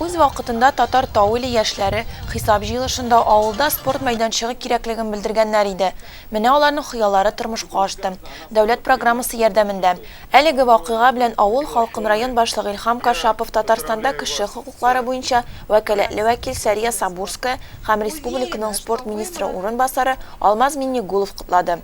Үз вакытында Татар Тауили яшьләре хисап җыелышында авылда спорт мәйданчыгы кирәклеген белдергәннәр иде. Менә аларның хыяллары тормышка ашты. Дәүләт программасы ярдәмендә. Әлеге вакыйга белән авыл халкын район башлыгы Илһам Кашапов Татарстанда кеше хокуклары буенча вәкаләтле вәкил Сәрия Сабурская һәм республиканың спорт министры урынбасары Алмаз Миңнегулов котлады.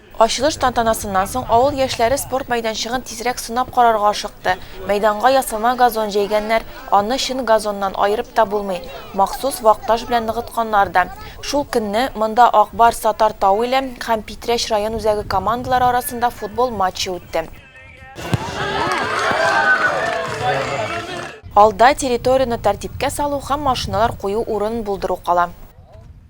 Ачылыш тантанасыннан соң авыл яшьләре спорт мәйданчыгын тизрәк сынап карарга ашыкты. Мәйданга ясалма газон җәйгәннәр, аны чын газоннан аерып та булмый, махсус вак таш белән ныгытканнар да. Шул көнне монда Ак Барс Татар Тау иле һәм Питрәч район үзәге командалары арасында футбол матчы үтте. Алда, территорияне тәртипкә салу һәм машиналар кую урынын булдыру кала.